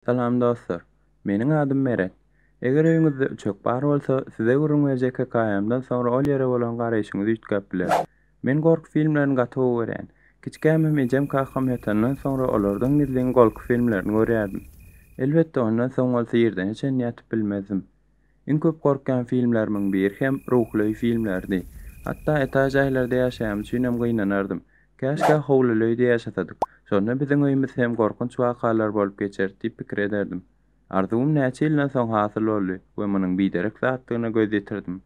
Salam dostlar. Meniň adym Meret. Eger öýüňizde üçek bar bolsa, size gürrüň berjek hekaýamdan soňra ol ýere bolan garaýşyňyz üýtgäp biler. Men gorky filmlerini gaty gowy görýän. Kiçkäm hem ejem-kakam ýatandan soňra olardan gizlin golky filmlerini görýärdim. Elbetde ondan soň bolsa ýerden-ä çenli ýatyp bilmezdim. Iň köp gorkýan filmlerimiň biri hem Ruhulöý filmleridi. Hatda etaž jaýlarda ýaşaýam üçinem gynanardym. Käşgä howlulöýde ýaşasadyk. Şonda biziň öýümiz hem gorkunç wakalar bolup geçer diýip pikir ederdim. Arzuwym näçe ýyldan soň hasyl boldy we munuň biderek zatdygyna göz ýetirdim.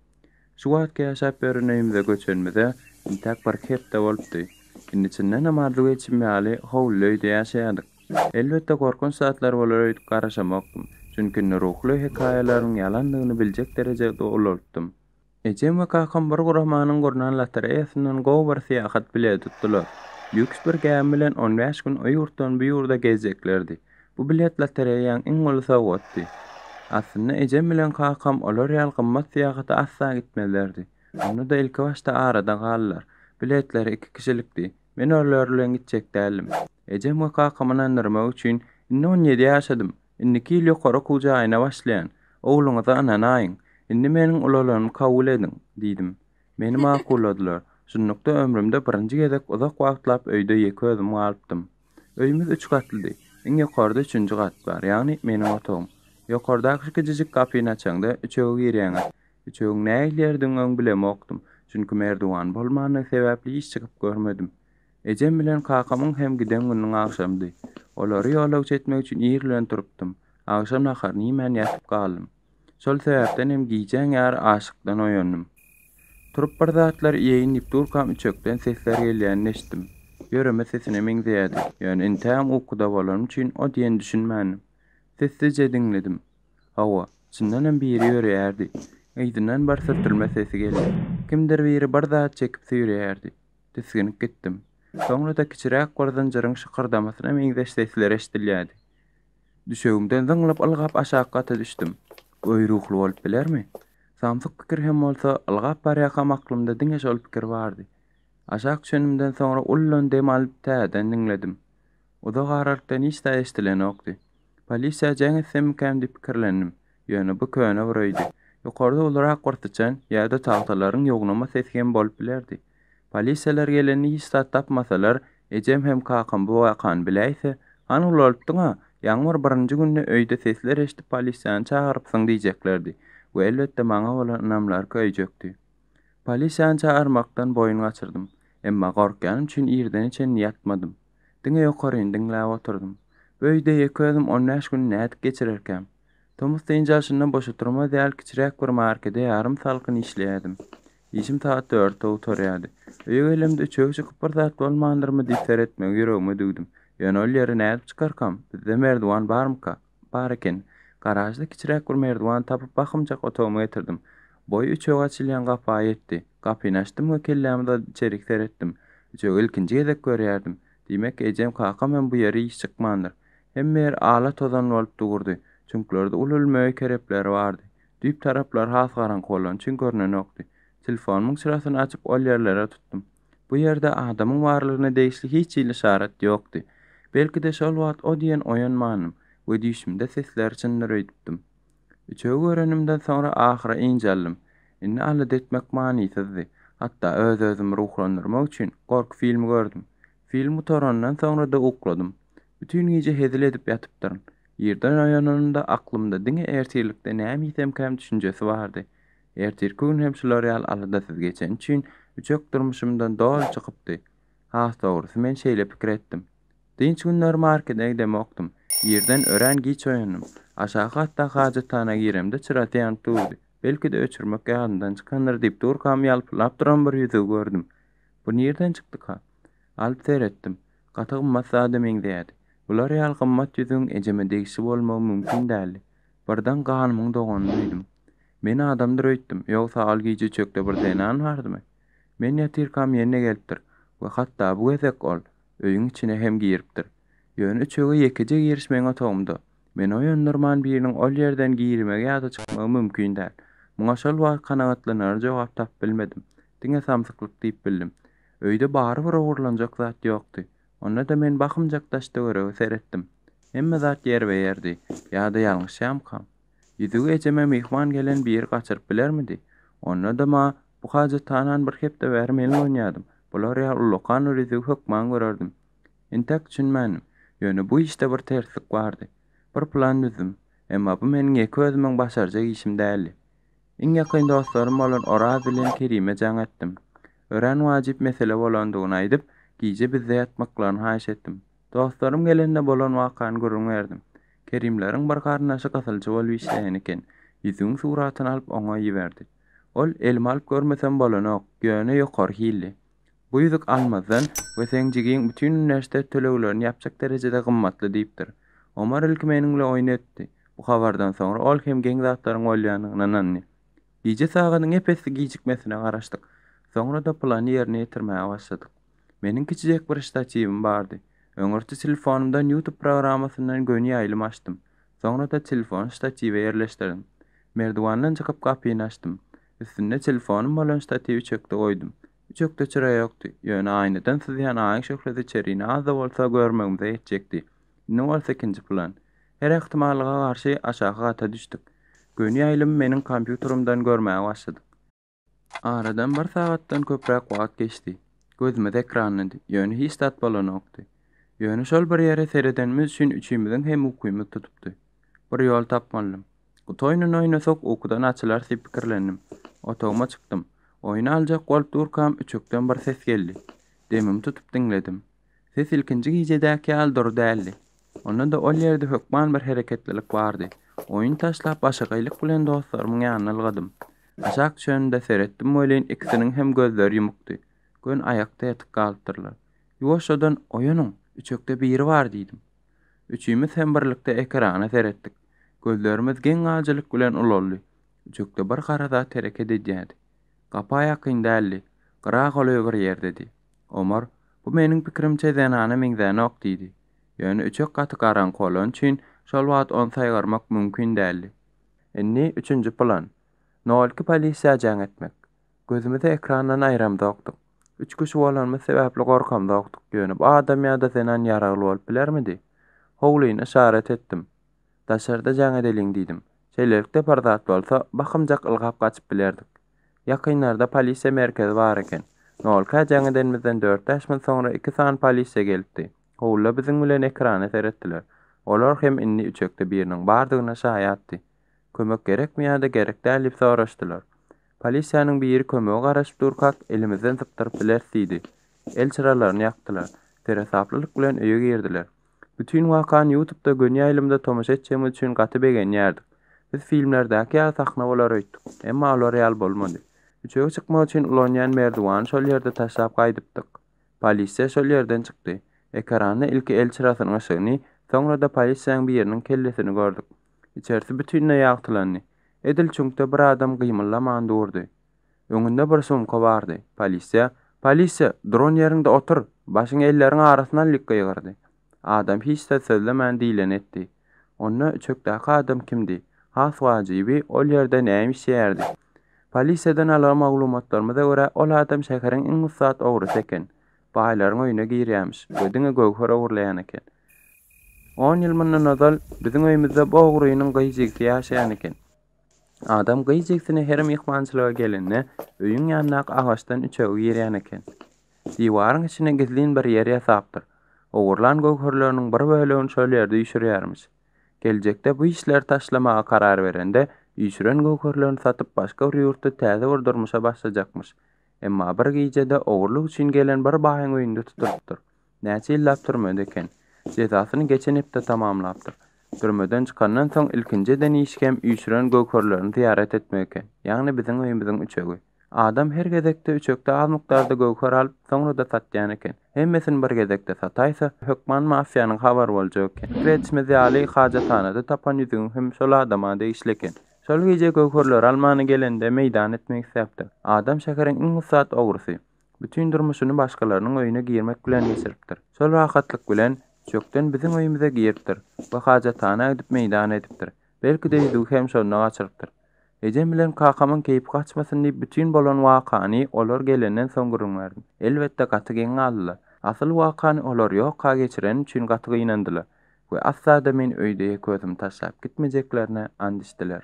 Şu wagtky ýaşap ýören öýümize göçenimize intäk birki hepde bolupdy. Indi çyndanam arzuw etşim ýaly howlyly öýde ýaşaýardyk. Elbetde gorkunç zatlar bolar öýdüp garaşamokdym, çünki indi ruhly hekaýalaryň ýalandygyny biljek derejede ulalypdym. Ejem we kakam bir guramanyň gurnan lotereýasyndan gowy bir syýahat bileti tutdular. Lýuks bir gämi bilen on bäş gün o ýurtdan bu ýurda gezjeklerdi. Bu bilet lotereýaň iň uly sowgatdy. Aslynda ejem bilen kakam olar ýaly gymmat syýahata asla gitmezlerdi. Onda-da ilkibaşda arada galdylar. Biletleri iki kişilikdi. Men olar bilen gitjek däldim. Ejem we kakamy ynandyrmak üçin, Indi on ýedi ýaşadym. Indiki ýyl ýokary okuw jaýyna başlaýan. Ogluňyza ynanaýyň. Indi meniň ulalanymy kabul ediň, diýdim. Meni makulladylar. Şunlukda ömrümde birinji gezek uzak wagtlap öýde ýeke özüm galypdym. Öýümiz üç gatlydy. Iň ýokarda üçünji gat bar, ýagny meniň otagym. Ýokardaky şu kiçijik gapyny açaňda, üçege girýäňiz. Üçegiň nähili ýerdigini öň bilemokdym, çünki merdiwan bolmandygy sebäpli hiç çykyp görmedim. Ejem bilen kakamyň hem giden gününiň agşamydy. Olary ýolagçy etmek üçin ir bilen turupdym. Agşam naharyny iýmän ýatyp galdym. Şol sebäpden hem gijäň ýary aşykdan oýandym. Turup bir zatlar iýeýin diýip durkam üçekden sesler gelýänini eşitdim. Ýöreme sesine meňzeýärdi, ýöne intägem ukuda bolanym üçin o diýen düşünmändim. Sessizje diňledim. Hawa, çyndan hem biri ýöreýärdi. Yzyndan bir sürtülme sesi geldi. Kimdir biri bir zat çekip süýreýärdi. Tisginip gitdim. Soňra-da kiçiräk bir zynjyryň şykyrdamasyna meňzeş sesler eşidilýärdi. Düşegimden zyňlyp ylgap aşak gata düşdüm. Göý ruhly bolup bilermi? Samsyk pikir hem bolsa, ylgap barýakam aklymda diňe şol pikir bardy. Aşak düşenimden soňra ulladan dem alyp täzeden diňledim. Uzak aralykdan hiç zat eşdilenokdy. Polisiýa jeň etsemikäm diýip pikirlendim. Ýöne bu köne bir öýdi. Ýokarda ulurak bir syçan ýa-da tagtalaryň ýognama sesi hem bolup bilerdi. Polisiýalar gelende hiç zat tapmasalar, ejem hem kakam bu wakany biläýse, Hany ulalypdyň-a, ýaňmyr birinji günde öýde sesler eşidip polisiýany çagyrypsyň diýjeklerdi we elbetde maňa bolan ynamlary köýjekdi. Polisiýany çagyrmakdan boýun gaçyrdym. Emma gorkýanym üçin irdene çenli ýatmadym. Diňe ýokaryny diňläp oturdym. Bu öýde ýeke özüm on bäş güni nädip geçirerkäm? Tomus dynç alşyndan boş oturma däl, kiçiräk bir markede ýarym salkyn işleýärdim. Işim sagat dörtde gutarýardy. Öýe gelemde üçegi çykyp bir zat bolmandyrmy diýip seretmegi ýüregime düwdüm. Ýöne ol ýere nädip çykarkam? Bizde merdiwan barmyka? Bar ekeni. Garažda kiçiräk bir merdiwan tapyp bakymjak otagyma getirdim. Boýy üçege açylýan gapa ýetdi. Gapyny açdym we kellämi dadyp içerik seretdim. Üçegi ilkinji gezek görýärdim. Diýmek, ejem, kakam hem bu ýere iş çykmandyr. Hemme ýer ala-tozan bolup dugurdy. Çüňklerde uly-uly möýe kerepleri bardy. Düýp taraplary has garaňky bolany üçin görnenokdy. Telefonymyň çyrasyny açyp ol ýerlere tutdum. Bu ýerde adamyň barlygyna degişli hiç hili yşarat ýokdy. Belki-de şol wagt o diýen oýanmandym we düýşümde sesleri çyndyr öýdüpdim. Üçegi görenimden soňra ahyry ynj aldym. Indi alada etmek manysyzdy. Hatda öz-özümi ruhlandyrmak üçin gorky filmi gördüm. Film gutarandan soňra-da ukladym. Bütin gije hezil edip ýatypdyryn. Irden oýananymda aklymda diňe ertirlikde näme iýsemkäm düşünjesi bardy. Ertirki gün hem şular ýaly aladasyz geçeni üçin üçek durmuşymdan doly çykypdy. Has dogrusy men şeýle pikir etdim. Dynç günleri markede gidemokdym. Irden örän giç oýandym. Aşaky gatdaky hajathana giremde çyrasy ýanyp durdy. Belki-de öçürmek ýadyndan çykandyr diýip durkam ýalpyldap duran bir ýüzügi gördüm. Bu nirden çykdyka? Alyp seretdim. Gaty gymmat zada meňzeýärdi. Bular ýaly gymmat ýüzügiň ejeme degişli bolmagy mümkin däldi. Birden ganymyň doganyny duýdum. Men adamdyr öýtdüm, ýogsa al gije çökde bir zenan bardymy? Men ýatyrkam ýene gelipdir we hatda bu gezek ol öýüň içine hem giripdir. Ýöne üçege ýekeje giriş meň otagymda. Meni oýandyrman biriniň ol ýerden girmegi ýa-da çykmagy mümkin däl. Muňa şol wagt kanagatlanarly jogap tapyp bilmedim. Diňe samsyklyk diýip bildim. Öýde barybir ogurlanjak zat ýokdy. Onda-da men bakymjak daş-töwerege seretdim. Hemme zat ýerbe-ýerdi. Ýa-da ýalňyşýamkam? Ýüzügi ejeme myhman gelen biri gaçyryp bilermidi? Onda-da ma, bu hajathanany bir hepde bäri men ulanýardym. Bular ýaly ullakan bir ýüzügi hökman görerdim. Entäk düşünmändim. Ýöne bu işde bir terslik bardy. Bir plan düzdüm. Emma bu meniň ýeke özümiň başarjak işim däldi. Iň ýakyn dostlarym bolan Oraz bilen Kerime jaň etdim. Örän wajyp mesele bolandygyny aýdyp, gije bizde ýatmaklaryny haýyş etdim. Dostlarym gelende bolan wakany gürrüň berdim. Kerimleriň bir garyndaşy gysylçy bolup işleýän eken, ýüzügiň suratyny alyp oňa iberdi. Ol, Elimi alyp görmesem bolanok, ýöne ýokary hilli. Bu ýüzük almazdan we seň jigiň bütin uniwersitet töleglerini ýapjak derejede gymmatly diýipdir. Omar ilki meniň bilen oýun etdi. Bu habardan soňra ol hem geň zatlaryň bolýandygyna ynandy. Gije sagadyň ep-esli gijikmesine garaşdyk. Soňra-da plany ýerine ýetirmäge başladyk. Meniň kiçijek bir ştatiwim bardy. Öňürti telefonymdan YouTube programmasyndan göni ýaýlym açdym. Soňra-da telefony ştatiwe ýerleşdirdim. Merdiwandan çykyp gapyny açdym. Üstünde telefonym bolan ştatiwi çökde goýdum. Üçekde çyra ýokdy, ýöne aýnadan syzýan aýyň şöhlesi içerini az-da bolsa görmegimize ýetjekdi. Indi bolsa ikinji plan. Her ähtimallyga garşy aşaky gata düşdük. Göni ýaýlymy meniň kompýuterymdan görmäge başladyk. Aradan bir sagatdan köpräk wagt geçdi. Gözümiz ekrandydy, ýöne hiç zat bolanokdy. Ýöne şol bir ýere seredenimiz üçin üçimiziň hem ukymyz tutupdy. Bir ýol tapmalydym. Gut oýnuny oýnasak ukudan açylarys diýip pikirlendim. Otagyma çykdym. Oýny aljak bolup durkam üçekden bir ses geldi. Demimi tutup diňledim. Ses ilkinji gijädäki ýaly dury däldi. Onda-da ol ýerde hökman bir hereketlilik bardy. Oýny taşlap başagaýlyk bilen dostlarymyň ýanyna ylgadym. Aşak düşenimde seretdim welin ikisiniň hem gözleri ýumukdy. Gön aýakda ýatyp galypdyrlar. Ýuwaşjadan Oýanyň, üçekde biri bar diýdim. Üçimiz hem birlikde ekrana seretdik. Gözlerimiz geň galyjylyk bilen ulaldy. Üçekde bir gara zat hereket edýärdi. Gapa ýakyn däldi. Gyra golaý bir ýerdedi. Omar, Bu meniň pikirimçe zenana meňzänok diýdi. Ýöne üçek gaty garaňky bolany üçin şol wagt ony saýgarmak mümkin däldi. Indi üçünji plan. Nolki polisiýa jaň etmek. Gözümizi ekrandan aýramzokdyk. Üç kişi bolanymyz sebäpli gorkamzokdyk, ýöne bu adam ýa-da zenan ýaragly bolup bilermidi? Howlyny yşarat etdim. Daşarda jaň edeliň diýdim. Şeýlelikde bir zat bolsa, bakymjak ylgap gaçyp bilerdik. Ýakynlarda polisiýa merkezi bar eken. Nolkä jaň edenimizden dört-bäş minut soňra iki sany polisiýa gelipdi. Howlyda biziň bilen ekrana seretdiler. Olar hem indi üçekde biriniň bardygyna şaýatdy. Kömek gerekmi ýa-da gerek däl diýip soraşdylar. Polisiýanyň biri kömege garaşyp durkak, elimizden sypdyryp bileris diýdi. El çyralaryny ýakdylar. Seresaplylyk bilen öýe girdiler. Bütin wakany ýutubda göni ýaýlymda tomaşa etjegimiz üçin gaty begenýärdik. Biz filmlerdäki ýaly sahna bolar öýtdük. Emma olar ýaly bolmady. Üçege çykmak üçin ulanýan merdiwany şol ýerde taşlap gaýdypdyk. Polisiýa şol ýerden çykdy. Ekranda ilki el çyrasynyň yşygyny, soňra-da polisiýanyň biriniň kellesini gördük. Içersi bütinleý ýagtylandy. Edil çüňkde bir adam gymyldaman durdy. Öňünde bir sumka bardy. Polisiýa! Polisiýa! Duran ýeriňde otur! Başyňy elleriň arasyna al diýip gygyrdy. Adam hiç zat sözlemän diýleni etdi. Onda üçekdäki adam kimdi? Has wajyby, ol ýerde näme işleýärdi? Polisiýadan algan maglumatlarymyza görä, ol adam şäheriň iň ussat ogrusy eken. Baýlaryň öýüne girýämiş we diňe göwher ogurlaýan eken. On ýyl mundan ozal biziň öýümizde Bogrynyň gyz jigisi ýaşaýan eken. Adam gyz jigisini her myhmançylyga gelende öýüň ýanyndaky agaçdan üçegi girýän eken. Diwaryň içine gizlin bir ýer ýasapdyr. Ogurlan göwherleriniň bir bölegini şol ýerde üýşürýärmiş. Geljekde bu işleri taşlamaga karar berende, üýşüren göwherlerini satyp başga bir ýurtda täze bir durmuşa başlajakmyş. Emma bir gijede ogurlyk üçin gelen bir baýyň öýünde tutulypdyr. Näçe ýyllap türmede eken? Jezasyny geçen hepde tamamlapdyr. Türmeden çykandan soň ilkinji eden işi hem üýşüren göwherlerini zyýarat etmek eken, ýagny biziň öýümiziň üçegi. Adam her gezekde üçekde az mukdarda göwher alyp, soňra-da satýan eken. Hemmesini bir gezekde sataýsa, hökman mafiýanyň habary boljak eken. Pikir edişimiz ýaly, hajathanada tapan ýüzügiň hem şol adama degişli eken. Şol gije göwherleri almana gelende meýdan etmek isläpdir. Adam şäheriň iň ussat ogrusy. Bütin durmuşyny başgalarynyň öýüne girmek bilen geçiripdir. Şol rahatlyk bilen üçekden biziň öýümize giripdir we hajatana gidip meýdan edipdir. Belki-de ýüzügi hem şonda gaçyrypdyr. Ejem bilen kakamyň keýpi gaçmasyn diýip bütin bolan wakany olar gelenden soň gürrüň berdim. Elbetde gaty geň galdylar. Asyl wakany olar ýoka geçireni üçin gaty gynandylar we asla-da meni öýde ýeke özümi taşlap gitmejeklerine and içdiler.